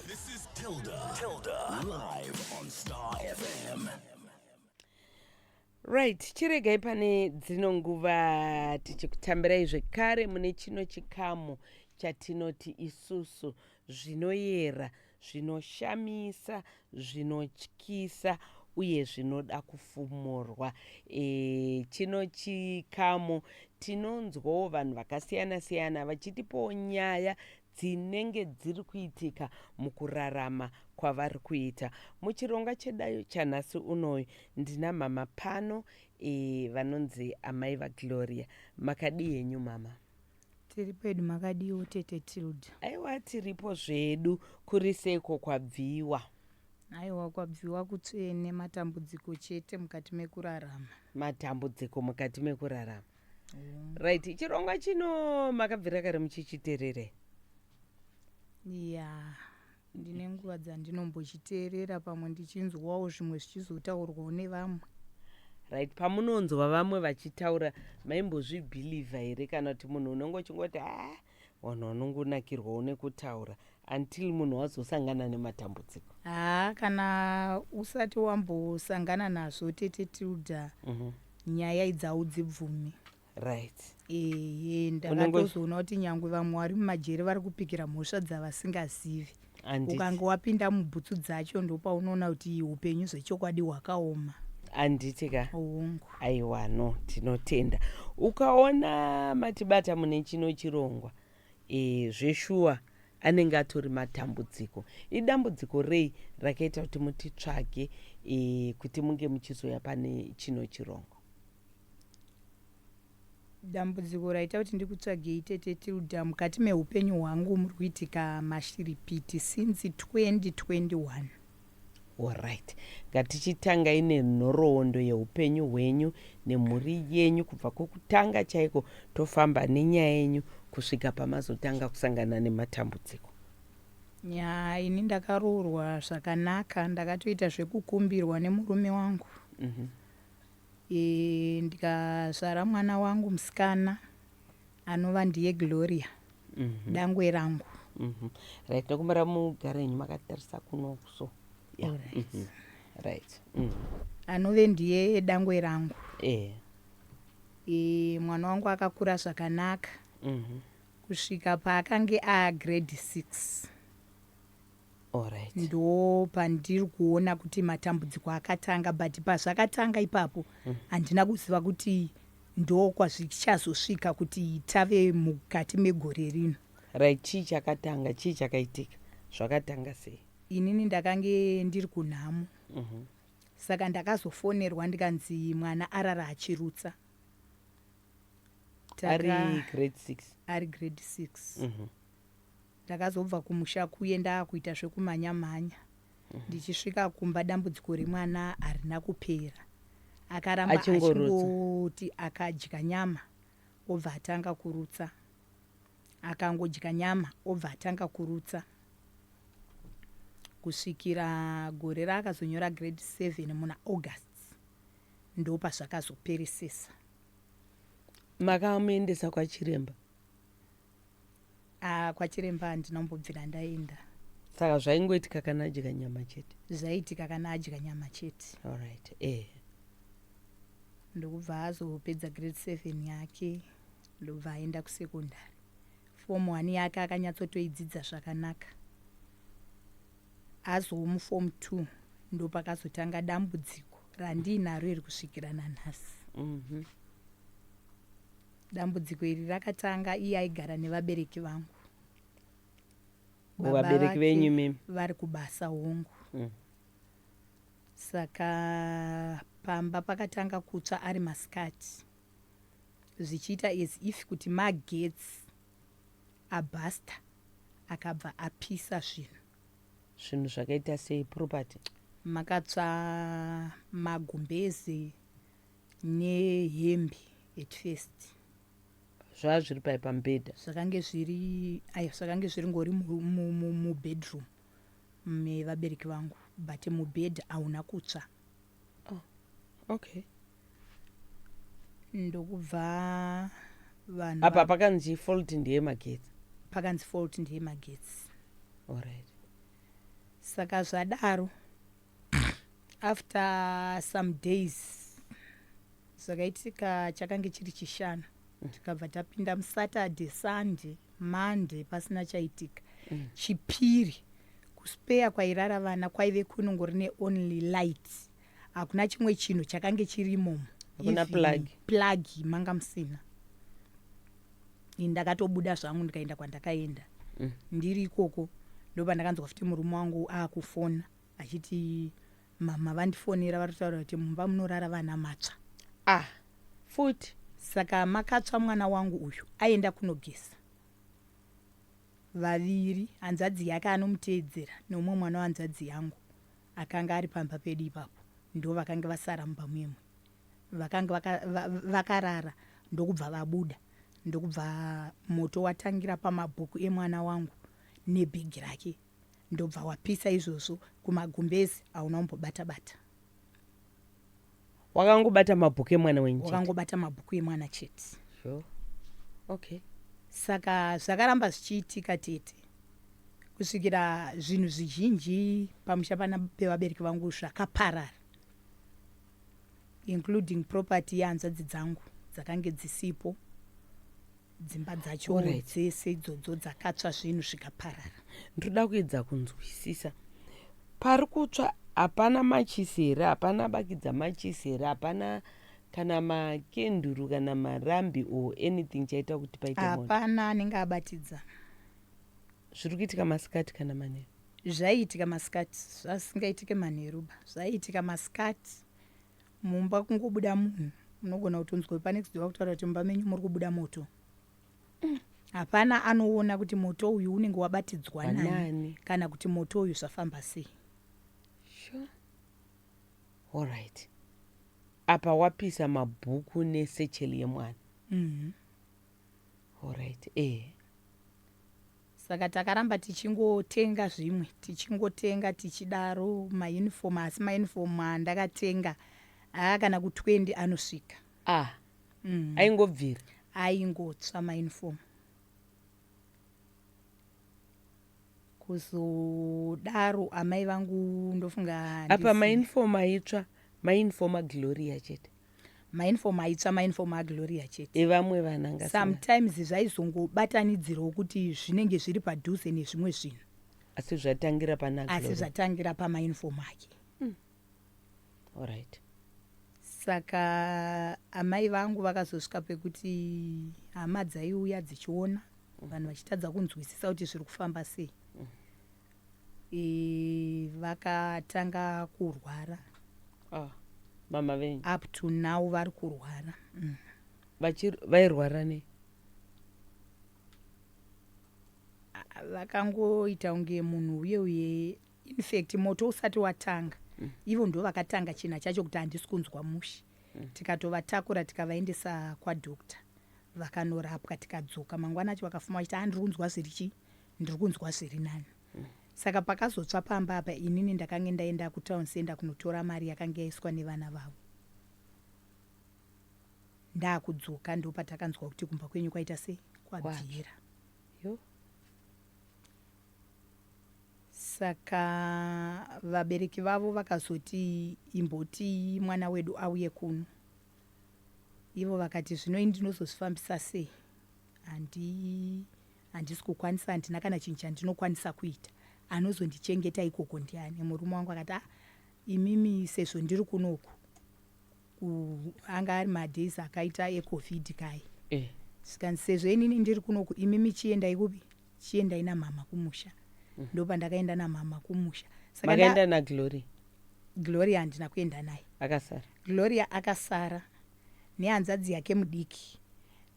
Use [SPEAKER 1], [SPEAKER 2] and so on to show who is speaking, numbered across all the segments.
[SPEAKER 1] This is Tilda. Tilda. Live on Star FM.
[SPEAKER 2] right chiregai pane dzino nguva tichikutambirai zvekare mune chino chikamu chatinoti isusu zvinoyera zvinoshamisa zvinotyisa uye zvinoda kufumurwa e, chino chikamu tinonzwawo vanhu vakasiyana siyana vachitipawo nyaya dzinenge dziri kuitika mukurarama kwavari kuita. Muchironga chedayo chanhasi unoyu ndina mhamha pano e, vanonzi amai vaGloria. Makadii henyu mhamha? Tiri pedu,
[SPEAKER 3] makadiiwo tete Tilda? Aiwa tiripo
[SPEAKER 2] zvedu, kuri seiko kwabviwa? Aiwa
[SPEAKER 3] kwabviwa kutsvene, matambudziko chete mukati mekurarama. Matambudziko
[SPEAKER 2] mukati mekurarama. right chirongwa chino makabvira kare muchichiterere ya
[SPEAKER 3] ndine nguva dzandinombochiteerera pamwe ndichinzwawo zvimwe zvichizotaurwawo nevamwe right
[SPEAKER 2] pamunonzwa vamwe vachitaura maimbozvibhilivha here kana kuti munhu unenge uchingoti ha vanhu vanongonakirwawo nekutaura until munhu wazosangana nematambudziko haa kana
[SPEAKER 3] usati wambosangana nazvo tete tilda mm -hmm. nyaya idzawo dzibvume right
[SPEAKER 2] ehe
[SPEAKER 3] ndakatozoona kuti nyangwe vamwe vari mumajeri vari kupikira mhosva dzavasingazivi Handiti. ukange wapinda mubhutsu dzacho ndopaunoona kuti upenyu zvechokwadi hwakaoma handiti ka
[SPEAKER 2] hongu aiwa
[SPEAKER 3] no
[SPEAKER 2] tinotenda ukaona matibata mune chino chirongwa e, zveshuwa anenge atori matambudziko idambudziko rei rakaita kuti mutitsvage e, kuti munge muchizouya pane chino chirongwa
[SPEAKER 3] Dambudziko raita kuti ndikutsvagei tete Tilda mukati mehupenyu hwangu muri kuitika mashiripiti since 2021.
[SPEAKER 2] Horaiti, ngatichitangai nenhoroondo yehupenyu hwenyu nemhuri yenyu kubva kwekutanga chaiko tofamba nenyaya yenyu kusvika pamazotanga kusangana nematambudziko. Yaa
[SPEAKER 3] ini ndakaroorwa zvakanaka ndakatoita zvekukumbirwa nemurume wangu. e, ndikazvara mwana wangu musikana anova ndiye gloria mm -hmm. dangwe rangu mm -hmm. right
[SPEAKER 2] tokumbira mugare yenyu makatarisa kuno so yeah. All right. Mm -hmm right mm.
[SPEAKER 3] anove ndiye dangwe rangu yeah. e, mwana wangu akakura zvakanaka mm -hmm. kusvika paakange agrade six
[SPEAKER 2] Alright. ndopandiri
[SPEAKER 3] kuona kuti matambudziko akatanga but pazvakatanga ipapo handina kuziva kuti ndokwazvichazosvika kuti tave mukati megore rino Right, chii
[SPEAKER 2] chakatanga, chii chakaitika? Zvakatanga sei? inini ndakange
[SPEAKER 3] ndiri kunhamo Mhm. saka ndakazofonerwa ndikanzi mwana arara achirutsa
[SPEAKER 2] Taka- Ari grade 6. ari grade six
[SPEAKER 3] Mhm. Ndakazobva kumusha kuye ndaakuita zvekumhanya mhanya. Ndichisvika kumba dambudziko remwana harina kupera. Akaramba Achingorutsa. achingoti akadya nyama obva atanga kurutsa. Akangodya nyama obva atanga kurutsa. Kusvikira gore raakazonyora grade 7 muna August ndopazvakazoperesesa.
[SPEAKER 2] Makamuendesa kwachiremba? Ah,
[SPEAKER 3] kwachiremba handina kumbobvira ndaenda. Saka zvaingoitika
[SPEAKER 2] kana adya nyama chete. Zvaitika kana adya
[SPEAKER 3] nyama chete. All right. Eh. Ndokubva azopedza grade 7 yake ndobva aenda kusecondary. Form 1 yake akanyatsotoidzidza zvakanaka. Azomu form 2 ndopakazotanga dambudziko randiinaro iri kusvikira nanhasi. Mhm. Mm Dambudziko iri rakatanga iye aigara nevabereki vangu.
[SPEAKER 2] Vabereki venyu mimi? Vari kubasa
[SPEAKER 3] hongu. Mm. Saka pamba pakatanga kutsva ari masikati zvichiita as if kuti magetsi abhasta akabva apisa zvinhu
[SPEAKER 2] zvinhu zvakaita sei property makatsva
[SPEAKER 3] magumbezi nehembe at first zvaa
[SPEAKER 2] zviri pai pamubhedha zvakange zviri
[SPEAKER 3] ai zvakange zviri ngori mubedroom mevabereki vangu but mubhedha hauna kutsva oh,
[SPEAKER 2] okay
[SPEAKER 3] ndokubva vanhu apa pakanzi
[SPEAKER 2] fault ndiye magetsi pakanzi fault
[SPEAKER 3] ndiye magetsi alright saka zvadaro after some days zvakaitika chakange chiri chishanu tikabva tapinda musaturday sunday monday pasina chaitika chipiri kuspeya kwairara vana kwaive kunongori neonly light hakuna chimwe chinhu chakange chirimomo Hakuna Even plug.
[SPEAKER 2] plug
[SPEAKER 3] manga musina Ini ndakatobuda zvangu ndikaenda kwandakaenda ndiri ikoko ndopandakanzwa futi murume wangu akufona achiti mhamha vandifonera vari kutaura kuti mumba munorara vana matsva ah
[SPEAKER 2] futi saka
[SPEAKER 3] makatsva mwana wangu uyu aenda kunogeza vaviri hanzvadzi yake anomuteedzera neumwe mwana wanzvadzi yangu akanga ari pamba pedu ipapo ndo vakange vasara mumba muimwe vakange vakarara ndokubva vabuda ndokubva moto watangira pamabhuku emwana wangu nebhegi rake Ndobva wapisa izvozvo kumagumbezi hauna umbobata bata.
[SPEAKER 2] Wakangobata mabhuku emwana wenyu chete. Wakangobata mabhuku emwana
[SPEAKER 3] chete. Sure.
[SPEAKER 2] Okay. Saka
[SPEAKER 3] zvakaramba zvichiitika tete kusvikira zvinhu zvizhinji pamusha pana pevabereki vangu zvakaparara including property yehanzvadzi dzangu dzakange dzisipo dzimba dzacho Alright. dzese idzodzo dzakatsva zvinhu zvikaparara ndinoda kuedza
[SPEAKER 2] kunzwisisa pari kutsva hapana machisi here hapana bakidza machisi here hapana kana makenduru kana marambi or anything chaita kuti paite moto hapana anenge abatidza zviri kuitika masikati kana manheru zvaiitika
[SPEAKER 3] masikati zvasingaitike manheruba zvaiitika masikati Mumba kungobuda munhu unogona kutonzwa panext door vakutaura kuti mumba menyu muri kubuda moto. Mm. Hapana anoona kuti moto uyu unenge wabatidzwa nani, nani kana kuti moto uyu zvafamba sei. Sure.
[SPEAKER 2] All right. Apa wapisa mabhuku nesecheli yemwana. Mm -hmm. Horaiti ehe.
[SPEAKER 3] Saka takaramba tichingotenga zvimwe tichingotenga tichidaro mauniform asi mauniform andakatenga haa kana ku 20 anosvika. Ah. Mm. Aingobvira.
[SPEAKER 2] Aingotsva
[SPEAKER 3] mauniform. kuzodaro amai vangu ndofunga apa mainfom
[SPEAKER 2] aitsva mainfoma gloria chete mainfom aitsva
[SPEAKER 3] mainfom agloria chete evamwe vananga
[SPEAKER 2] sometimes
[SPEAKER 3] zvaizongobatanidzirawo kuti zvinenge zviri padhuze nezvimwe zvinhu asi zvatangira
[SPEAKER 2] pana asi zvatangira
[SPEAKER 3] pamainfom ake mm.
[SPEAKER 2] allright saka
[SPEAKER 3] amai vangu vakazosvika pekuti hama dzaiuya dzichiona mm. vanhu vachitadza kunzwisisa kuti zviri kufamba sei mm. Eh, vakatanga kurwara Ah,
[SPEAKER 2] mama venyu up to now vari
[SPEAKER 3] kurwara mm. Vachir- vairwara
[SPEAKER 2] nei
[SPEAKER 3] Ah, vakangoita kunge munhu uye uye infact moto usati watanga ivo ndo vakatanga china chacho kuti handisi kunzwa mushe tikatovatakura tikavaendesa kwadoctor vakanorapwa tikadzoka mangwana acho vakafuma vachiti handiri kunzwa zviri chii ndiri kunzwa zviri nani saka pakazotsva pamba apa inini ndakange ndaenda kutown center kunotora mari yakange yaiswa nevana vavo ndaakudzoka ndo patakanzwa kuti kumba kwenyu kwaita sei kwabvira saka vabereki vavo vakazoti imboti mwana wedu auye kuno ivo vakati zvino ini ndinozozvifambisa sei handi Handisi kukwanisa, handina kana chinhu chandinokwanisa kuita. Anozondichengeta ikoko ndiani? Murume wangu akati, ah, imimi sezvo ndiri kunoku, anga ari madays akaita ecovid kai eh. zvikanzi sezvo inini ndiri kunoku imimi chiendai kupi chiendai namhama kumusha mm. ndo pandakaenda namhama kumusha sakaaenda
[SPEAKER 2] nagloria gloria
[SPEAKER 3] handina kuenda naye akasara gloria
[SPEAKER 2] akasara
[SPEAKER 3] nehanzvadzi yake mudiki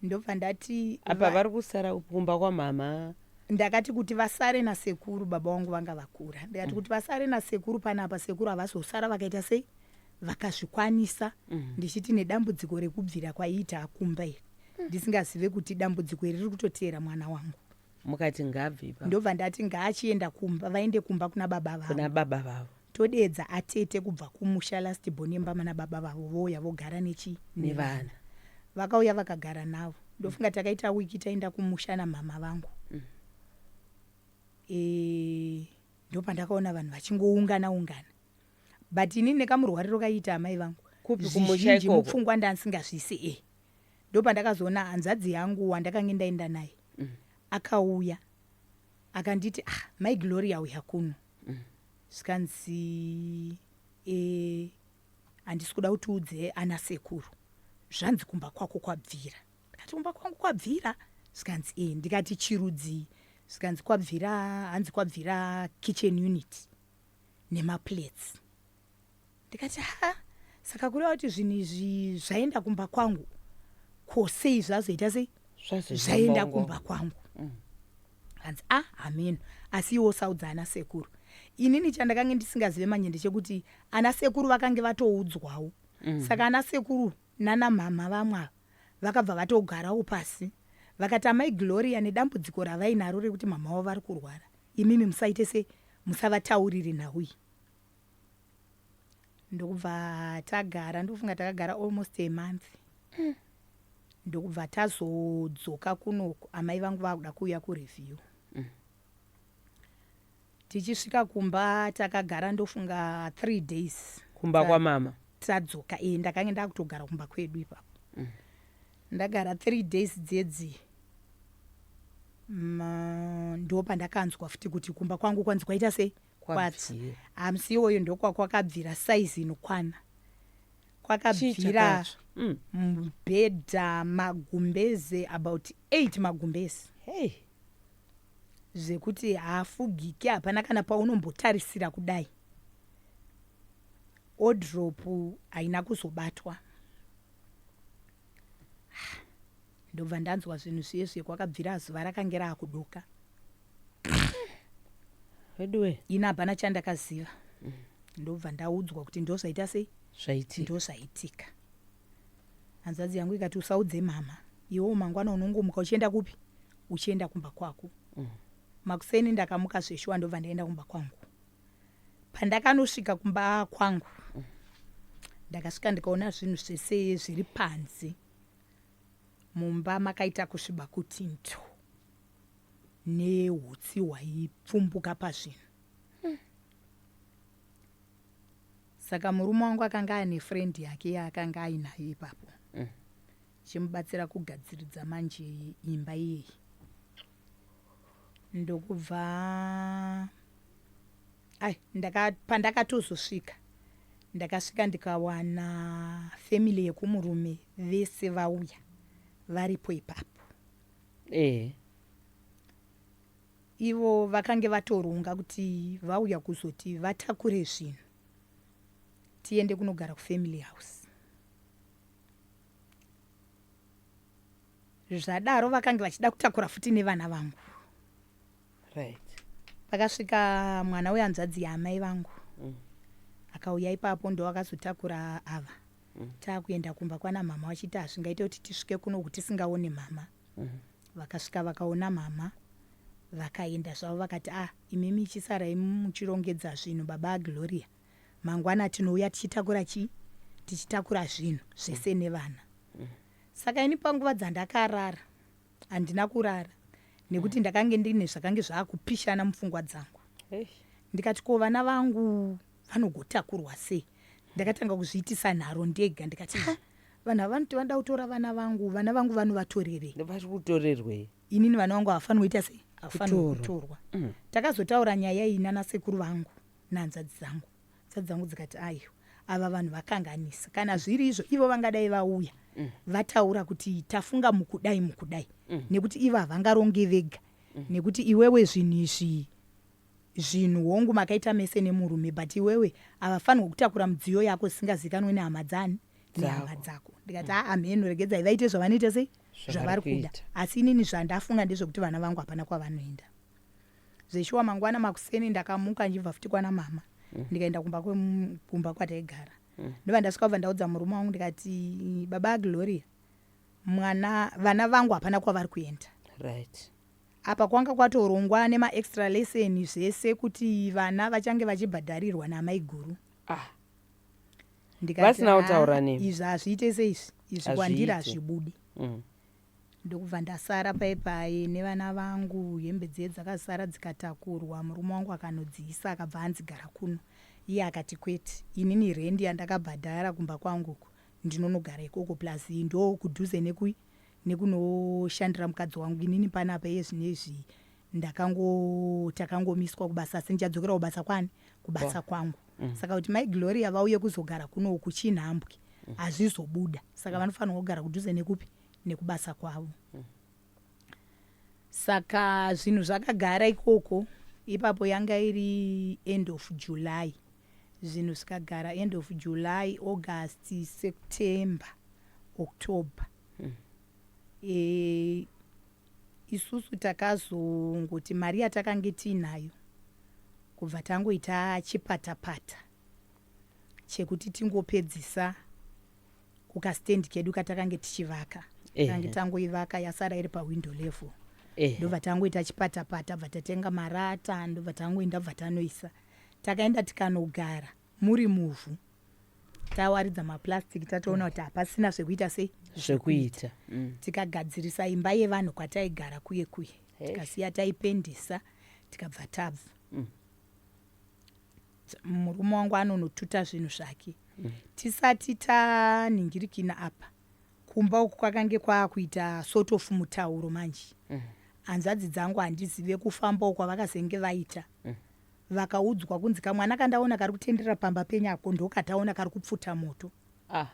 [SPEAKER 3] ndobva ndati apa va- vari kusara
[SPEAKER 2] kumba kwamhamha ndakati kuti
[SPEAKER 3] vasare nasekuru baba vangu vanga vakura ndikati kuti vasare nasekuru panapa sekuru havazosara vakaita sei vakazvikwanisa ndichiti nedambudziko rekubvira kwaiita akumba iri ndisingazive kuti dambudziko iri riri kutoteera mwana wangu mukati ngaabve
[SPEAKER 2] ipapo ndobva ndati ngaachienda
[SPEAKER 3] kumba vaende kumba kuna baba vavo kuna baba vavo
[SPEAKER 2] Todeedza atete
[SPEAKER 3] kubva kumusha last born yemama nababa vavo vouya vogara nechi nevana. Vakauya vakagara navo. Ndofunga takaita week taenda kumusha namama vangu. Eh ndopandakaona vanhu vachingoungana ungana. But ini nekamurwariro kaiita amai vangu. Kupi kumusha zvizhinji
[SPEAKER 2] ikoko. mupfungwa ndansingazvisi
[SPEAKER 3] eh. Ndopandakazoona hanzvadzi yangu wandakange ndaenda naye. Akauya akanditi ah mai Gloria uya kuno. zvikanzi e handisi kuda kuti udze ana sekuru zvanzi kumba kwako kwabvira ndikati kumba kwangu kwabvira zvikanzi e ndikati chirudzii zvikanzi kwabvira hanzi kwabvira kitchen unit nemaplates ndikati ha saka kureva kuti zvinhu izvi zvaenda kumba kwangu ko sei zvazoita sei zvaenda kumba kwangu mm. hanzi a ah, hameno asi iwo saudza ana sekuru inini chandakange ndisingazive manje ndechekuti ana sekuru vakange vatoudzwawo mm. saka ana sekuru nana mhamha vamwe ava vakabva vatogarawo pasi vakati amai gloria nedambudziko ravainaro rekuti mhamha wavo vari kurwara imimi musaite se musavatauriri nhau iyi ndokubva tagara ndofunga takagara almost a month mm. ndokubva tazodzoka kunoku amai vangu vakuda kuuya kureview mm. tichisvika kumba takagara ndofunga three days kumba kwamama
[SPEAKER 2] tadzoka e
[SPEAKER 3] ndakange ndakutogara kumba kwedu ipapo mm. ndagara three days dzedzi ndopandakanzwa futi kuti kumba kwangu kwanzi kwaita sei kwatsi hamsi iwoyo ndokwakwakabvira saizi inokwana kwakabvira mm. mubhedha magumbeze about eight magumbeze hey. zvekuti haafugike hapana kana paunombotarisira kudai odropu haina kuzobatwa ndobva ndanzwa zvinhu zviye zviye kwakabvira zuva rakange raakuduka veduwe ini hapana chandakaziva mm. ndobva ndaudzwa kuti ndozvaita sei zvaitika ndozvaitika hanzvadzi yangu ikati usaudze mama iwewo mangwana unongomuka uchienda kupi uchienda kumba kwako mm. makuseni ndakamuka zveshuwa ndobva ndaenda kumba kwangu pandakanosvika kumba kwangu mm. ndakasvika ndikaona zvinhu zvese zviri panze mumba makaita kusviba kuti nto nehutsi hwaipfumbuka pazvinhu hmm. saka murume wangu akanga aine friend yake yaakanga ainayo ipapo hmm. chimubatsira kugadziridza manje imba iyeyi ndokubva ai pandakatozosvika ndakasvika ndikawana family yekumurume vese vauya varipo ipapo Ehe. Ivo vakange vatoronga kuti vauya kuzoti vatakure zvinhu tiende kunogara kufamily house. Zvadaro vakange vachida kutakura futi nevana vangu. right pakasvika mwana wehanzvadzi yaamai vangu mm. akauya ipapo ndo akazotakura ava mm. taakuenda kumba kwana mhama vachiti hazvingaite kuti tisvike kuno kuti tisingaone mhama mm. vakasvika vakaona mhama vakaenda zvavo vakati ah imimi ichisarai muchirongedza zvinhu baba agloria mangwana tinouya tichitakura chii tichitakura zvinhu zvese nevana saka ini panguva dzandakarara Handina kurara nekuti ndakange ndine zvakange zvaakupishana mupfungwa dzangu. Ndikati ko vana vangu vanogotakurwa sei? Ndakatanga kuzviitisa nharo ndega ndikati ha vanhu ava vanoti vanoda kutora vana vangu, vana vangu vanovatorerei? Vari
[SPEAKER 2] kutorerwei? Inini vana vangu
[SPEAKER 3] havafanirwe kuita sei? Havafanirwe kutorwa. Takazotaura nyaya iyi nanasekuru vangu nehanzvadzi dzangu. Hadzva dzangu dzikati ayo ava vanhu vakanganisa kana zviri izvo ivo vangadai vauya mm. vataura kuti tafunga mukudai mukudai mm. nekuti ivo havangaronge vega mm. nekuti iwewe zvinhu izvi zvinhu hongu makaita mese nemurume but iwewe havafanirwa kutakura mudziyo yako zisingazikanwe nehama dzani nehama dzako ndikati mm. aa mheno regedzai vaite zvavanoita sei zvavari kuda asi inini zvandafunga ndezvekuti vana vangu hapana kwavanoenda Zveshuwa mangwana makuseni ndakamuka ndichibva futi kwana mama mm. ndikaenda kumba kumba kwataigara mm. ndobva ndasvika kubva ndaudza murume wangu ndikati baba gloria mwana vana vangu hapana kwavari kuenda right apa kwanga kwatorongwa nemaextra lesson zvese kuti vana vachange vachibhadharirwa namaiguru ah.
[SPEAKER 2] ndikavasina
[SPEAKER 3] kutaura ah, nei izvi hazviite
[SPEAKER 2] seizvi
[SPEAKER 3] izvi kwandiri hazvibudi
[SPEAKER 2] mm.
[SPEAKER 3] ndokubva ndasara paye paye nevana vangu hembe dziye dzakasara dzikatakurwa murume wangu akanodziisa akabva anzi gara kuno iye akati kwete inini rendi yandakabhadhara kumba kwangu uku ndinonogara ikoko plus iyi ndoo kudhuze neku nekunoshandira mukadzi wangu inini panapa iye zvinezvi Ndakango takangomiswa kubasa asi ndichadzokera kubasa kwani? Kubasa Kwa. kwangu. Mm. Saka kuti mai Gloria vauye kuzogara kuno uku chinhambwe mm. hazvizobuda. Saka mm. vanofanirwa kugara kudhuze nekupi? Nekubasa kwavo. Mm. Saka zvinhu zvakagara ikoko ipapo yanga iri end of July. Zvinhu zvikagara end of July, August, September, October. Mm. E, Isusu takazongoti mari yatakange tiinayo kubva tangoita chipatapata chekuti tingopedzisa kukastand kedu katakange tichivaka tange tangoivaka yasara iri pawindow level ndobva tangoita chipatapata bva tatenga marata ndobva tangoenda bva tanoisa takaenda tikanogara muri muvhu tawaridza maplastic tatoona kuti hapasina zvekuita sei zvekuita
[SPEAKER 2] mm. tikagadzirisa
[SPEAKER 3] imba yevanhu kwataigara kuye kuye tikasiya taipendisa tikabva tabva mm. murume wangu anonotuta zvinhu zvake mm. tisati taningirikina apa kumba uku kwakange kwaakuita sort of mutauro manje hanzvadzi dzangu handizive kufamba uko vakazenge vaita vakaudzwa kunzi kamwana kandaona kari kutenderera pamba penyu ako ndokataona kari kupfuta moto ah.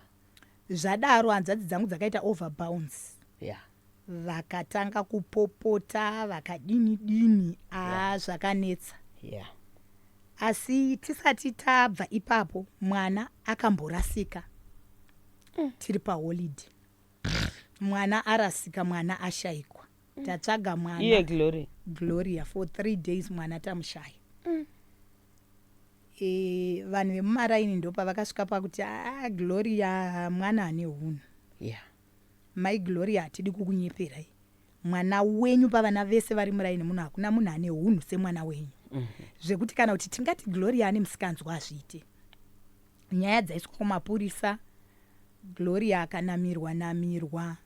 [SPEAKER 3] zvadaro hanzvadzi dzangu dzakaita over bounds yeah. vakatanga kupopota vakadini dini aa yeah. zvakanetsa yeah. asi tisati tabva ipapo mwana akamborasika mm. tiri paholiday mwana arasika mwana ashaikwa mm. tatsvaga mwana iye glory
[SPEAKER 2] gloria for three days
[SPEAKER 3] mwana tamushaya mm. e, vanhu vemumaraini ndopa vakasvika pakuti ah, gloria mwana ane hunhu yeah. mai gloria hatidi kukunyeperai mwana wenyu pavana vese vari muraini muno hakuna munhu ane hunhu semwana wenyu mm -hmm. zvekuti kana kuti tingati gloria ane musikanzwa hazviite nyaya dzaiswa kumapurisa gloria akanamirwa namirwa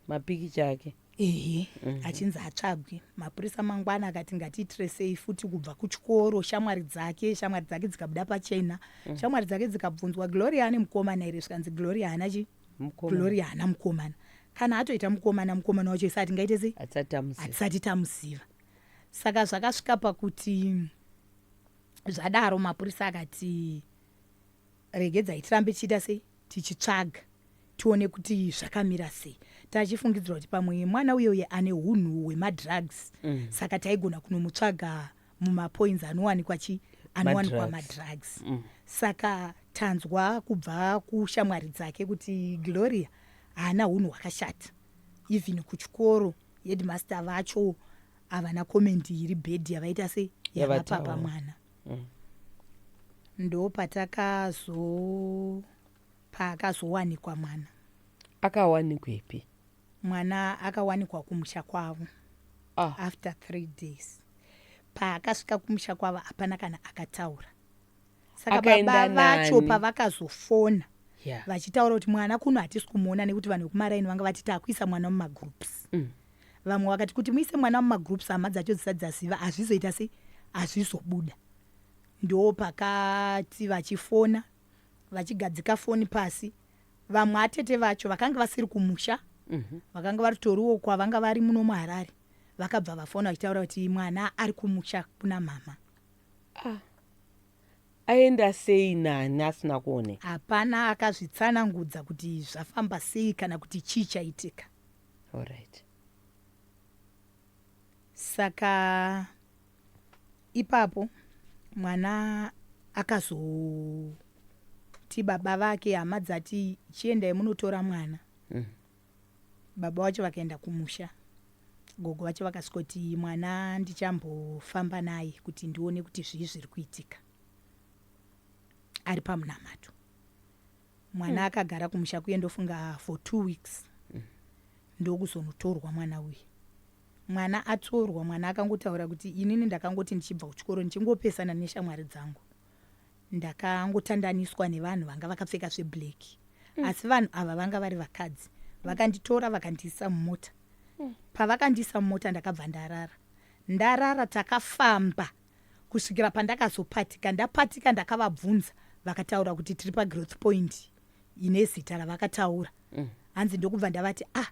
[SPEAKER 2] mapikicha ake ehe mhm. achinzi
[SPEAKER 3] atsvagwe mapurisa mangwana akati ngatiitresei futi kubva kuchikoro shamwari dzake shamwari dzake dzikabuda pachena mhm. shamwari dzake dzikabvunzwa gloria ane mukomana here zvikanzi gloria haana chi gloria haana mukomana kana atoita mukomana mukomana wacho isati ngaite sei hatisati tamuziva saka zvakasvika pakuti zvadaro mapurisa akati regedzai tirambe tichiita sei tichitsvaga tione kuti zvakamira sei tachifungidzira kuti pamwe mwana uye uye ane hunhu hwemadrugs mm. saka taigona kunomutsvaga mumapoints anowanikwa chi anowanikwa madrugs mm. saka tanzwa kubva kushamwari dzake kuti gloria haana hunhu hwakashata even kuchikoro headmaster vacho havana komendi iri bhedhi yavaita se yavapapa mwana mm. ndo patakazo paakazowanikwa mwana akawanikwepi
[SPEAKER 2] mwana
[SPEAKER 3] akawanikwa kumusha kwavo ah. after three days paakasvika kumusha kwavo hapana kana akataura saka baba vacho pavakazofona yeah. vachitaura kuti mwana kuno hatisi kumuona nekuti vanhu vekumaraini vanga vati takuisa mwana mumagroups mm. Vamwe vakati kuti muise mwana mumagroups hama dzacho dzisati dzaziva hazvizoita sei hazvizobuda. Ndopakati vachifona vachigadzika foni pasi vamwe atete vacho vakanga vasiri kumusha mhm. vakanga varitoriwo kwavanga vari muno muharare vakabva vafona vachitaura kuti mwana ari kumusha kuna mhama ah.
[SPEAKER 2] aenda sei nani asina kuone hapana
[SPEAKER 3] akazvitsanangudza kuti zvafamba sei kana kuti chii chaitika Alright. Saka ipapo mwana akazoti baba vake hama dzati chiendai munotora mwana. Mm. Baba wacho vakaenda kumusha. Gogo vacho vakasvikoti mwana ndichambofamba naye kuti ndione kuti zvii zviri kuitika ari pamunamato. mwana akagara kumusha kuye ndofunga for two weeks ndokuzonotorwa mwana uye mwana atorwa mwana akangotaura kuti inini ndakangoti ndichibva kuchikoro ndichingopesana neshamwari dzangu ndakangotandaniswa nevanhu vanga vakapfeka zveblack mm. asi vanhu ava vanga vari vakadzi vakanditora vakandiisa mumota mm. pavakandiisa mumota ndakabva ndarara ndarara takafamba Kusvikira pandakazopatika ndapatika ndakavabvunza vakataura kuti tiri pagrowth point ine zita ravakataura mm. hanzi ndokubva ndavati a ah,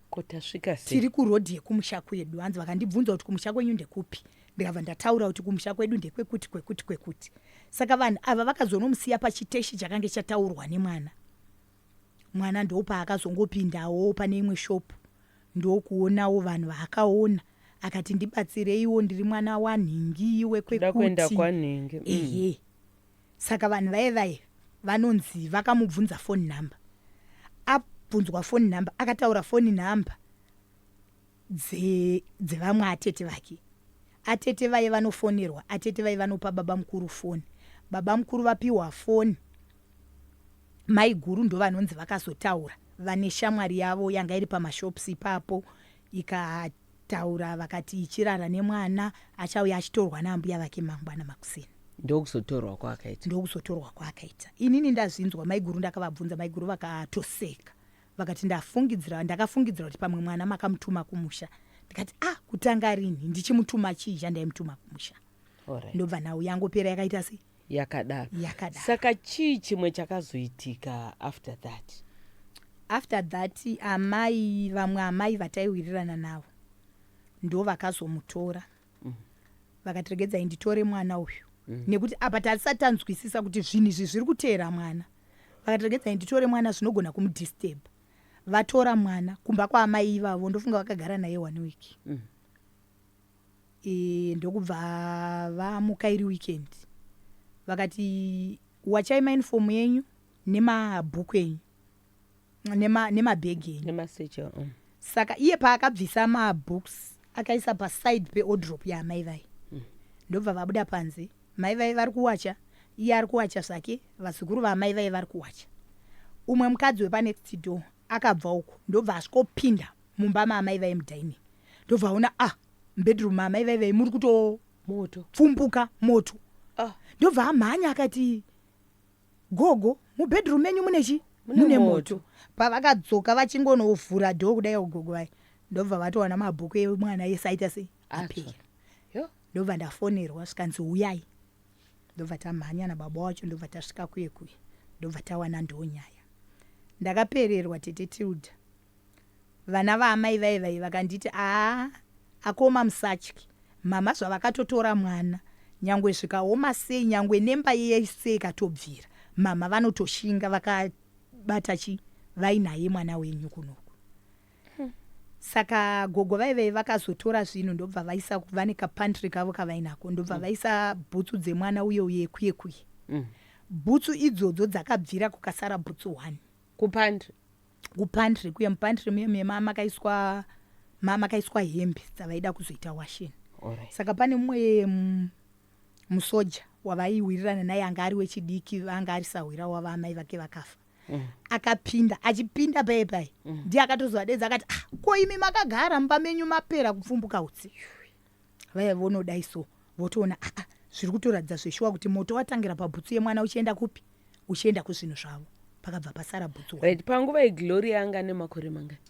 [SPEAKER 3] kotasvika
[SPEAKER 2] tiri kurodhi yekumusha
[SPEAKER 3] kwedu hanzi vakandibvunza kuti kumusha kwenyu ndekupi ndikabva ndataura kuti kumusha kwedu ndekwekuti kwekuti kwekuti saka vanhu ava vakazonomusiya pachiteshi chakange chataurwa nemwana Mwana ndopaakazongopindawo pane imwe shop ndokuonawo vanhu vaakaona akati ndibatsireiwo ndiri mwana wanhingi wekwekuti mm.
[SPEAKER 2] ehe
[SPEAKER 3] saka vanhu vaye vaye vanonzi vakamubvunza phone number abvunzwa phone number akataura phone number dze dzevamwe atete vake atete vaye vanofonerwa atete vaye vanopa baba mukuru foni baba mukuru vapiwa foni maiguru ndovanonzi vakazotaura vane shamwari yavo yanga iri pamashops ipapo ikataura vakati ichirara nemwana achauya achitorwa naambuya vake mangwana makuseni ndokuzotorwa
[SPEAKER 2] kwaakaita ndokuzotorwa
[SPEAKER 3] kwaakaita inini ndazvinzwa maiguru ndakavabvunza maiguru vakatoseka Vakati ndafungidzira, ndakafungidzira kuti pamwe mwana makamutuma kumusha. Ndikati ah kutanga rinhi ndichimutuma chii chandaimutuma kumusha. Alright. Ndobva nhau yangopera yakaita sei? yakadaro Yakadaro.
[SPEAKER 2] saka
[SPEAKER 3] chii chimwe
[SPEAKER 2] chakazoitika after that
[SPEAKER 3] after that amai vamwe amai vataiwirirana navo ndo vakazomutora vakati regedzai nditore mwana uyu nekuti apa tatisati tanzwisisa kuti zvinhu izvi zviri kuteera mwana vakati regedzai nditore mwana zvinogona kumudisturb vatora mwana kumba kwaamai ivavo ndofunga vakagara naye one week mm. e, ndokubva vamuka iri weekend vakati wachai mainifomu yenyu nemabhuku enyu nemabhegi enyu nemaseche um. saka iye paakabvisa mabooks akaisa paside peodrop yaamai vaye mm. ndobva vabuda panze mai vaye vari kuwacha iye ari kuwacha zvake vazukuru vaamai vaye vari kuwacha umwe mukadzi wepanext door akabva uko ndobva asvikopinda mumba maamai vaye mudining ndobva aona ah mbedroom maamai vaye vaye muri kutopfumbuka moto ah. ndobva amhanya akati Gogo, mubedroom menyu mune chi? Mune moto. Pavakadzoka vachingonovhura door kudai gogo vaye ndobva vatowana mabhuku emwana ese aita sei? Apera. Ndobva ndafonerwa zvikanzi huyai. Ndobva tamhanya nababa wacho ndobva tasvika kuye kuye ndobva tawana ndoo nyaya. Ndakapererwa tete Tilda. Vana vaamai vaye vaye vakanditi aa akoma musatye mhamha zvavakatotora mwana nyangwe zvikaoma sei nyangwe nemba yese ikatobvira mhamha vanotoshinga vakabata chi vai naye mwana wenyu kunoku saka gogo vaye vaye vakazotora zvinhu ndobva vaisa vane kapantry kavo kavainako ndobva mm. vaisa bhutsu dzemwana uye uye kuye kuye mm. bhutsu idzodzo dzakabvira kukasara bhutsu one kupantry kupantry kuya mupantry muya muya ma- makaiswa ma- makaiswa hembe dzavaida kuzoita washen Alright. saka pane mumwe mm, musoja wavaiwirirana naye anga ari wechidiki anga ari sahwira wava amai vake vakafa Mm. akapinda achipinda paye paye ndiye akatozovadedza akati ah, ko imi makagara mumba menyu mapera kupfumbuka utsi vaya vonodai so votoona aa ah, ah, zviri kutoratidza zveshuwa kuti moto watangira pabhutsu yemwana uchienda kupi uchienda kuzvinhu zvavo pakabva pasara bhutsu right panguva igloria
[SPEAKER 2] anga ane makore mangani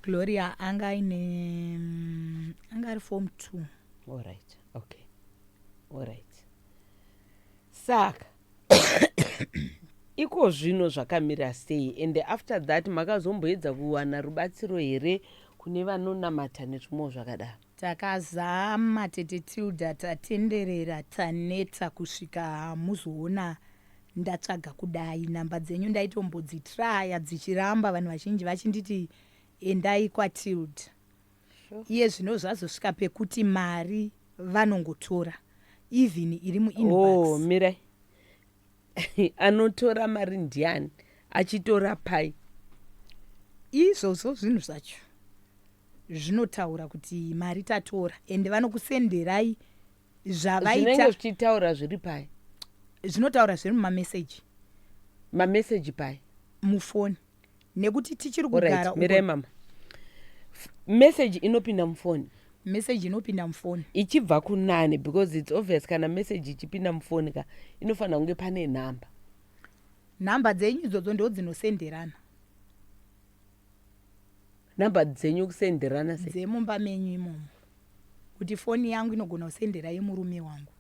[SPEAKER 2] gloria
[SPEAKER 3] anga aine mm, anga ari form two allright okay
[SPEAKER 2] allright saka Ikozvino zvakamira sei and after that makazomboedza kuwana rubatsiro here kune vanonamata nezvimwewo zvakadaro? Takazama
[SPEAKER 3] tete Tilda tatenderera taneta kusvika muzoona ndatsvaga kudai number dzenyu ndaitombodzitraya dzichiramba vanhu vazhinji vachinditi endai kwaTilda. Iye zvino zvazosvika pekuti mari vanongotora even iri muinbox. Oh, mirai.
[SPEAKER 2] Anotora mari ndiani? Achitora pai?
[SPEAKER 3] Izvozvo zvinhu zvacho zvinotaura kuti mari tatora ende vanokusenderai zvavaita. Zvinenge zvichitaura
[SPEAKER 2] zviri pai? Zvinotaura
[SPEAKER 3] zviri mumameseji. Mameseji
[SPEAKER 2] pai? Mufoni.
[SPEAKER 3] nekuti tichiri kugara mire mama
[SPEAKER 2] message inopinda mufoni message inopinda
[SPEAKER 3] mufoni ichibva kunani
[SPEAKER 2] because its obvious kana message ichipinda mufoni ka inofanira kunge pane nhamba
[SPEAKER 3] nhamba dzenyu idzodzo ndo dzinosenderana
[SPEAKER 2] nhamba dzenyu kusenderana se dzemumba menyu imomo
[SPEAKER 3] kuti foni yangu inogona kusendera yemurume wangu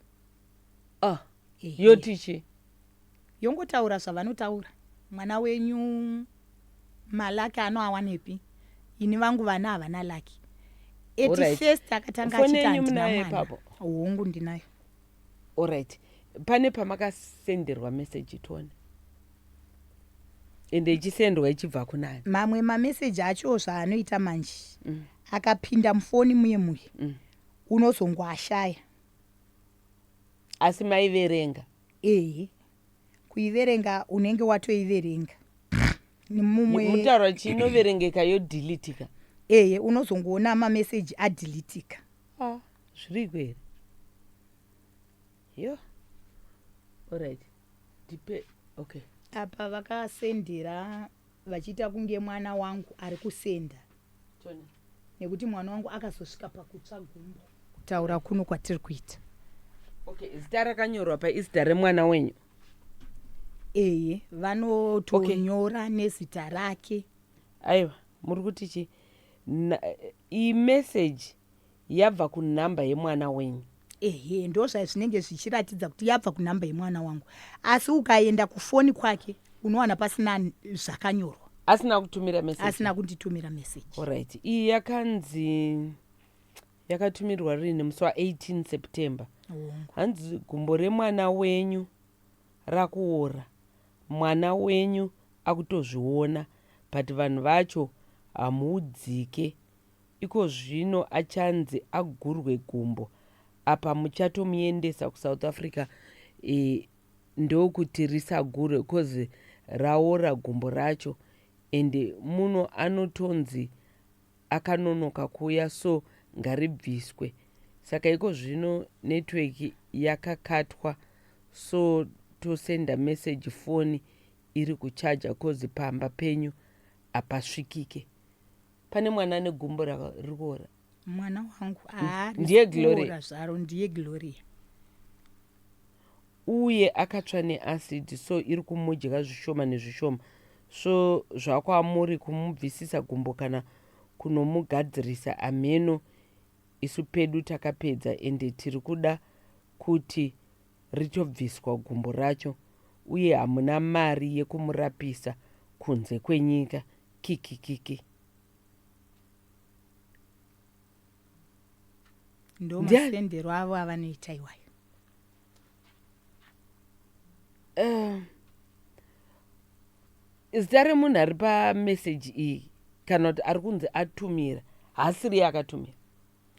[SPEAKER 3] ah yoti
[SPEAKER 2] chii
[SPEAKER 3] yongotaura zvavanotaura mwana wenyu malaki anoawanepi ini vangu vana havana laki eti
[SPEAKER 2] first akatanga
[SPEAKER 3] achitandinaepapo
[SPEAKER 2] hongu ndinayo
[SPEAKER 3] orit
[SPEAKER 2] pane pamakasenderwa meseji tione ende ichisendwa ichibva kunani mamwe mameseji
[SPEAKER 3] acho zvaanoita manje mm. akapinda mufoni muye muye mm. unozongoashaya
[SPEAKER 2] Asi maiverenga? Ehe. Kuiverenga
[SPEAKER 3] unenge watoiverenga.
[SPEAKER 2] Mumwe Mutaura chii inoverengeka yodeletika? ehe unozongoona
[SPEAKER 3] mameseji adeletika. Ah,
[SPEAKER 2] zviriko here? Yo. Alright. Ndipe okay. Apa
[SPEAKER 3] vakasendera vachiita kunge mwana wangu ari kusenda nekuti mwana wangu akazosvika pakutsva gumbo kutaura kuno kwatiri kuita okay
[SPEAKER 2] zita rakanyorwa paizita remwana wenyu eye
[SPEAKER 3] vanotonyora okay. nezita rake aiwa
[SPEAKER 2] muri kuti chii imeseji yabva kunumber yemwana wenyu. Ehe ndozvazvinenge
[SPEAKER 3] zvichiratidza kuti yabva kunumber yemwana wangu asi ukaenda kufoni kwake unowana pasina zvakanyorwa. Asina kutumira
[SPEAKER 2] message. Asina kunditumira message.
[SPEAKER 3] Alright. Iyi
[SPEAKER 2] yakanzi yakatumirwa rini musi wa 18 September. Hanzi gumbo remwana wenyu rakuora. Mwana wenyu akutozviona but vanhu vacho hamuudzike Ikozvino achanzi agurwe gumbo apa muchatomuendesa kuSouth Africa e, ndokuti risagurwe coz raora gumbo racho and muno anotonzi akanonoka kuuya so ngaribviswe. Saka ikozvino network yakakatwa so tosenda message foni iri kuchaja coz pamba penyu hapasvikike. pane mwana ane gumbo riri kuora mwana wangu
[SPEAKER 3] ndiye gloria
[SPEAKER 2] zvaro ndiye gloria uye akatsva neacid so iri kumudya zvishoma nezvishoma so zvakwamuri kumubvisisa gumbo kana kunomugadzirisa hameno isu pedu takapedza ende tiri kuda kuti richobviswa gumbo racho uye hamuna mari yekumurapisa kunze kwenyika kikikiki.
[SPEAKER 3] Ndo Ndia- masendero avo avanoita iwayo.
[SPEAKER 2] Eh, zita remunhu ari pameseji iyi kana kuti ari kunzi atumira haasiriye akatumira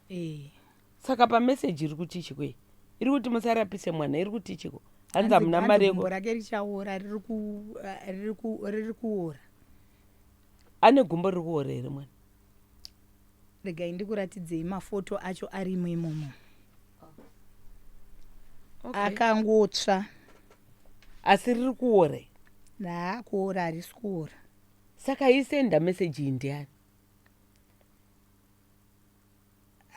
[SPEAKER 2] Eh. saka pamessage iri kuti chiko iyi iri kuti musarapise mwana iri kuti chiko hanzi hamuna mari yeko Gumbo rake richaora
[SPEAKER 3] riri ku eh, riri ku riri kuora.
[SPEAKER 2] ane gumbo riri kuora here mwana
[SPEAKER 3] Regai ndikuratidzei mafoto acho arimo imomo. Akangotsva.
[SPEAKER 2] asi riri kuora here? Naa kuora
[SPEAKER 3] harisi kuora. saka
[SPEAKER 2] isenda message iyi ndiani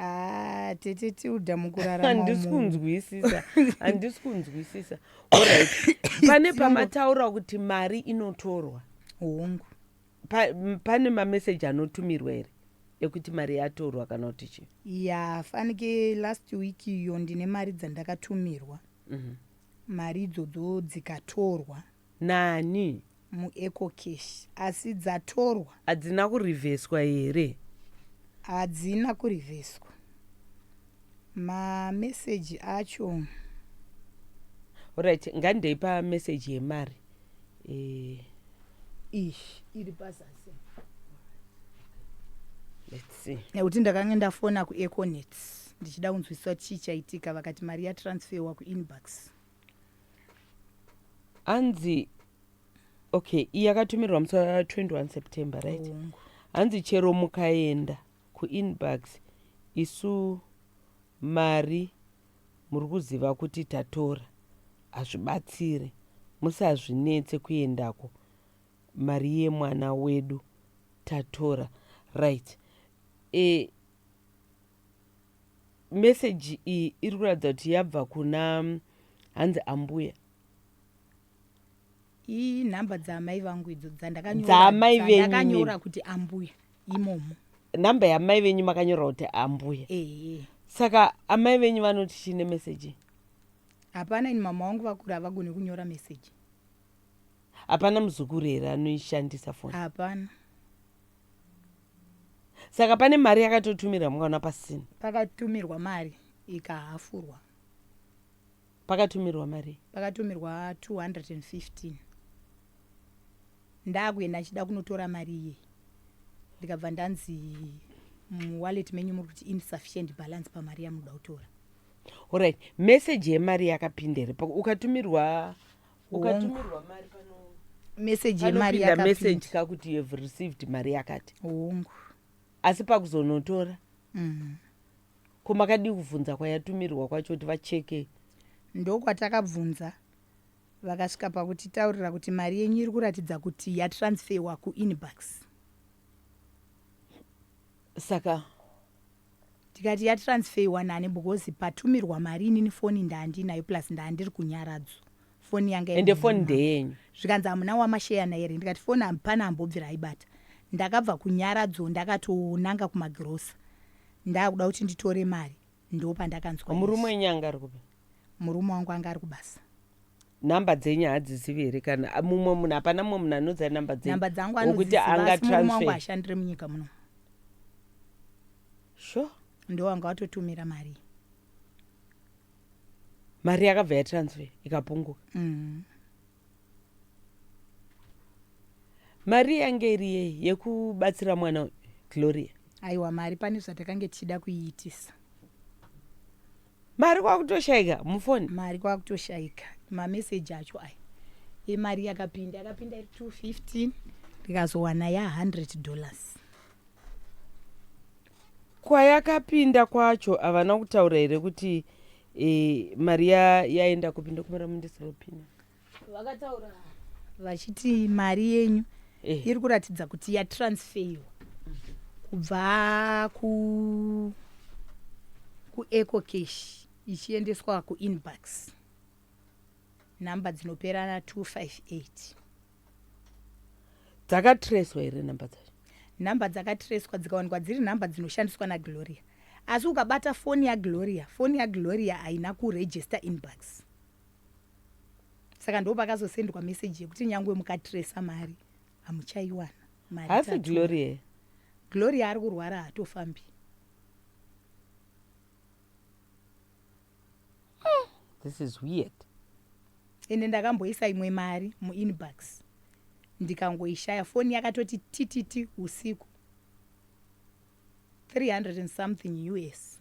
[SPEAKER 3] Ah, tete tilda mukurarama handisi umu. kunzwisisa
[SPEAKER 2] handisi kunzwisisa Alright. pane pamataura kuti mari inotorwa hongu
[SPEAKER 3] Pa- m-
[SPEAKER 2] pane mameseji anotumirwa here ekuti mari yatorwa kana kuti chii ya fanike
[SPEAKER 3] last week iyo ndine mari dzandakatumirwa Mhm. mari idzodzo dzikatorwa Nani?
[SPEAKER 2] MuEcoCash
[SPEAKER 3] asi dzatorwa. Hadzina kurivheswa
[SPEAKER 2] here? Hadzina
[SPEAKER 3] kurivheswa. Mameseji acho. Alright,
[SPEAKER 2] ngandeipa meseji yemari. Eh.
[SPEAKER 3] Ish, iri pazasi.
[SPEAKER 2] Let's see. Nekuti ndakange ndafona
[SPEAKER 3] kuEconet ndichida kunzwisisa kuti chii chaitika vakati mari yatransferwa kuInbucks.
[SPEAKER 2] hanzi okay iyi akatumirwa musi 21 september right hanzi chero mukaenda kuinbox isu mari muri kuziva kuti tatora hazvibatsire musazvinetse kuendako mari yemwana wedu tatora right e, message iyi iri kuratidza kuti yabva kuna hanzi ambuya
[SPEAKER 3] inhamba dzaamai vangu idzo dzandakanyoradzaamai venyuakanyora kuti ambuya imomo nhamba
[SPEAKER 2] yaamai venyu makanyora kuti ambuya ee saka amai venyu vanoti chii nemeseji hapana
[SPEAKER 3] ini mama wangu vakuru havagoni kunyora meseji
[SPEAKER 2] hapana muzukuru here anoishandisa foni hapana Saka pane mari yakatotumirwa mukaona pasina. Pakatumirwa mari
[SPEAKER 3] ikahafurwa.
[SPEAKER 2] Pakatumirwa mari. Pakatumirwa 215.
[SPEAKER 3] Ndakuenda ndichida kunotora mari iye. Ndikabva ndanzi muwallet menyu muri kuti insufficient balance pamari yamunoda kutora. Alright,
[SPEAKER 2] message yemari yakapinda here? Ukatumirwa ukatumirwa mari pano message yemari
[SPEAKER 3] anopinda yakapinda. message kakuti you have
[SPEAKER 2] received mari yakati hongu
[SPEAKER 3] asi
[SPEAKER 2] pakuzonotora Mm. ko makadii kuvhunza kwayatumirwa kwacho kuti vacheke ndokwatakabvunza
[SPEAKER 3] vakasvika pakutitaurira kuti mari yenyu iri kuratidza kuti yatransferwa kuinbox
[SPEAKER 2] saka
[SPEAKER 3] Ndikati yatransfeyiwa nani because patumirwa mari inini foni ndaandinayo plus ndaandiri kunyaradzo foni yanga ende foni ndeyenyu
[SPEAKER 2] zvikanzi hamuna
[SPEAKER 3] wamasheyana here ndikati foni hapana ambobvira aibata ndakabva kunyaradzo ndakatonanga kumagirosa ndakuda kuti nditore mari ndopandakanzwa murume wenyu anga
[SPEAKER 2] ari kupi murume wangu anga
[SPEAKER 3] ari kubasa number
[SPEAKER 2] dzenyu hadzizivi here kana mumwe munhu hapana mumwe munhu anoudza number dzenumber dzangu anokuti
[SPEAKER 3] anga transfer ashandire munyika muno sure
[SPEAKER 2] ndo wanga watotumira
[SPEAKER 3] mari
[SPEAKER 2] mari yakabva yatransfer ikapunguka mm. mari yange iri yei yekubatsira mwana gloria aiwa mari pane
[SPEAKER 3] zvatakange tichida kuiitisa
[SPEAKER 2] Mari kwakutoshaika mufoni. Mari kwakutoshaika
[SPEAKER 3] mameseji acho aya emari yakapinda yakapinda iri 215 ndikazowana ya 100 dollars.
[SPEAKER 2] Kwayakapinda kwacho havana kutaura here kuti eh, mari ya- yaenda kupi ndokumira mundisiripina. vakataura
[SPEAKER 3] vachiti mari yenyu eh. iri kuratidza kuti yatransfeiwa kubva ku kueco cash ichiendeswa kuinbox nhamba dzinopera na 258
[SPEAKER 2] dzakatreswa here nhamba dzacho nhamba dzakatreswa
[SPEAKER 3] dzikawanikwa dziri nhamba dzinoshandiswa nagloria asi ukabata foni yagloria foni yagloria haina kurejista inbox saka ndo pakazosendwa message yekuti nyangwe mukatresa mari hamuchaiwana mari hasi tatuma.
[SPEAKER 2] gloria here gloria ari kurwara
[SPEAKER 3] hatofambi
[SPEAKER 2] this is weird ende
[SPEAKER 3] ndakamboisa imwe mari muinbox ndikangoishaya foni yakatoti tititi usiku 300 and something us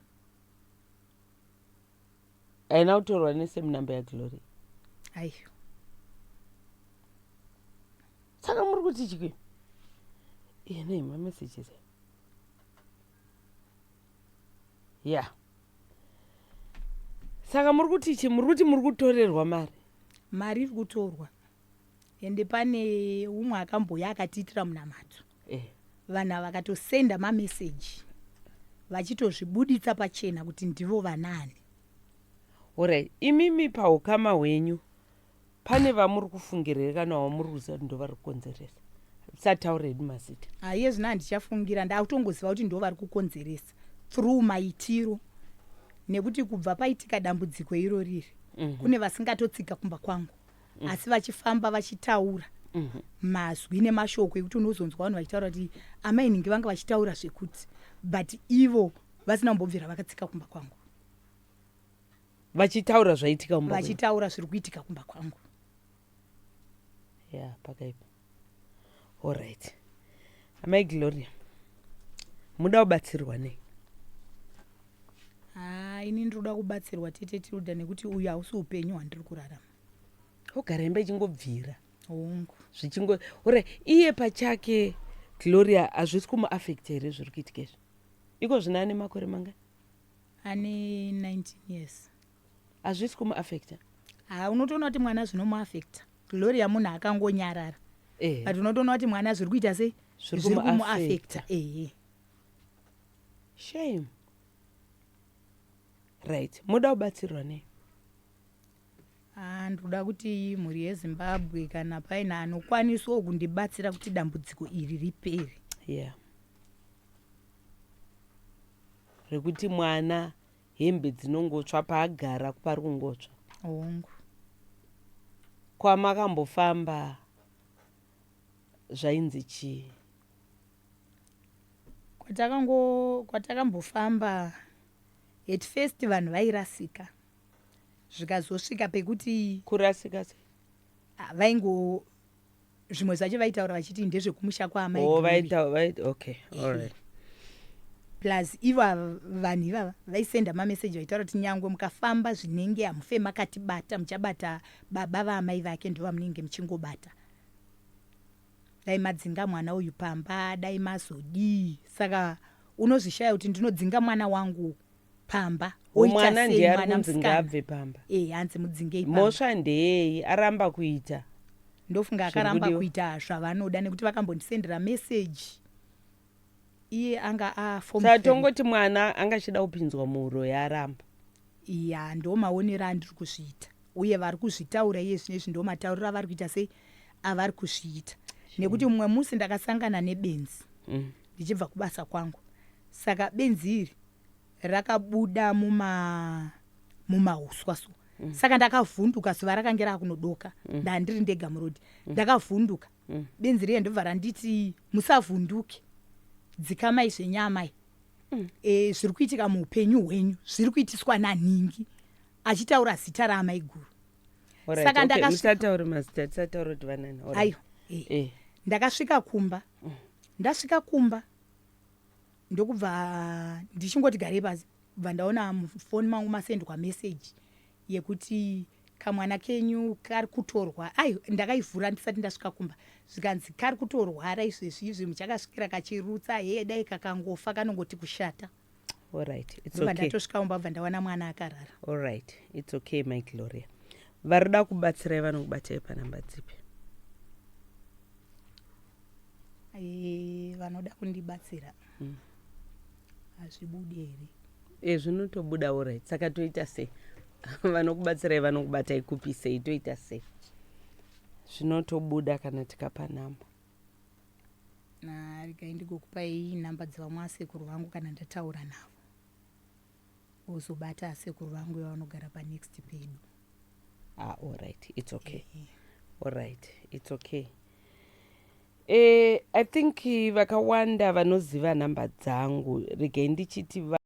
[SPEAKER 2] haina kutorwa nesame number yaglory aiyo saka muri kuti chiki iyena ima messages ya yeah. saka muri kuti chi muri kuti muri kutorerwa mari mari iri
[SPEAKER 3] kutorwa ende pane umwe akambouya akatiitira munamato eh. vanhu ava vakatosenda mameseji vachitozvibuditsa pachena kuti ndivo vanaani
[SPEAKER 2] orai imimi paukama hwenyu pane vamuri kufungirei kana wamuri kuziva kuti ndovari kukonzeresa sataure hedu mazita aiye ah, zvino handichafungira
[SPEAKER 3] ndaakutongoziva kuti ndo vari kukonzeresa through maitiro nekuti kubva paitika dambudziko iro riri mm -hmm. kune vasingatotsika kumba kwangu mm. asi vachifamba vachitaura mm -hmm. mazwi nemashoko ekuti unozonzwa vanhu vachitaura kuti amainhingi vanga vachitaura zvekuti but ivo vasina kumbobvira vakatsika kumba kwangu
[SPEAKER 2] vachitaura zvaitika vachitaura zviri kuitika kumba
[SPEAKER 3] kwangu ya
[SPEAKER 2] yeah, pakaipa Alright. Amai Gloria. Muda kubatsirwa nei? Ah,
[SPEAKER 3] ini ndinoda kubatsirwa tete Tilda nekuti uyu hausi upenyu hwandiri kurarama. Ogara
[SPEAKER 2] imba ichingobvira. Hongu.
[SPEAKER 3] Zvichingo ore
[SPEAKER 2] iye pachake Gloria hazvisi kumuaffecta here zviri kuitika izvi? Iko zvino ane makore mangani? Ane 19
[SPEAKER 3] years. hazvisi
[SPEAKER 2] kumuaffecta ha unotoona kuti
[SPEAKER 3] mwana zvinomuaffecta gloria munhu akangonyarara eh. but unotoona kuti mwana zviri kuita sei zviri kumuaffecta ehe
[SPEAKER 2] shame right moda kubatsirwa nei ah,
[SPEAKER 3] ndoda kuti mhuri yezimbabwe kana paine anokwanisawo kundibatsira kuti dambudziko
[SPEAKER 2] iri
[SPEAKER 3] ripere yeah
[SPEAKER 2] rekuti mwana hembe dzinongotsva paagara pari kungotsva hongu kwamakambofamba zvainzi chii kwatakango
[SPEAKER 3] kwatakambofamba at first vanhu vairasika zvikazosvika pekuti kurasika se
[SPEAKER 2] ah, vaingo
[SPEAKER 3] zvimwe zvacho vaitaura vachiti ndezvekumusha kwaamai oh, vaita, vaita,
[SPEAKER 2] okay.
[SPEAKER 3] All
[SPEAKER 2] right
[SPEAKER 3] plus ivo vanhu ivava vaisenda mameseji vaitaura kuti nyangwe mukafamba zvinenge hamufe makatibata muchabata baba vaamai vake ndo vamunenge muchingobata dai madzinga mwana uyu pamba dai mazodii saka unozvishaya kuti ndinodzinga mwana wangu pamba mwana ndiye
[SPEAKER 2] ari kunzi ngaabve pamba eh, hanzi mudzingei
[SPEAKER 3] mhosva ndeyei
[SPEAKER 2] aramba kuita ndofunga
[SPEAKER 3] akaramba kuita zvavanoda nekuti vakambondisendera meseji iye anga asaa tongoti
[SPEAKER 2] mwana anga achida kupinzwa muuro yaramba ya
[SPEAKER 3] ndo maonero andiri kuzviita uye vari kuzvitaura iye zvine izvi ndo matauriro avari kuita sei avari kuzviita nekuti mumwe musi ndakasangana nebenzi mm. ndichibva kubasa kwangu saka benzi iri rakabuda muma mumauswa so mm. saka ndakavhunduka zuva rakange rakunodoka mm. ndandiri ndega murodi mm. ndakavhunduka mm. benzi riye ndobva randiti musavhunduke dzikamai zvenyamai mm. e, zviri kuitika muupenyu hwenyu zviri kuitiswa nanhingi achitaura zita raamaiguru right, saka okay,
[SPEAKER 2] ndakasatauri mazita tisataura kuti vanani aiwa e. e.
[SPEAKER 3] ndakasvika kumba mm. ndasvika kumba ndokubva ndichingoti garei pasi bva ndaona mufoni mangu masendwa message yekuti kamwana kenyu kari kutorwa ai ndakaivhura ndisati ndasvika kumba zvikanzi kari kutorwara izvezvi izvi muchakasvikira kachirutsa heye dai kakangofa kanongoti kushata allright
[SPEAKER 2] its okay ndatosvika kumba bva ndawana mwana
[SPEAKER 3] akarara allright its
[SPEAKER 2] okay my gloria varida kubatsirai vanokubatai panamba dzipi
[SPEAKER 3] Eh, vanoda kundibatsira mm. hazvibudi mm. here e zvinotobuda orit
[SPEAKER 2] saka toita sei vanokubatsirai vanokubatai kupi sei toita sei zvinotobuda kana tikapa nhamba
[SPEAKER 3] regai ndigokupai nhamba dzevamwe asekuru vangu kana ndataura navo wozobata sekuru vangu yavanogara panext pedu ah,
[SPEAKER 2] alright its okay yeah, yeah. alright its okay eh, i think vakawanda vanoziva nhamba dzangu regai ndichiti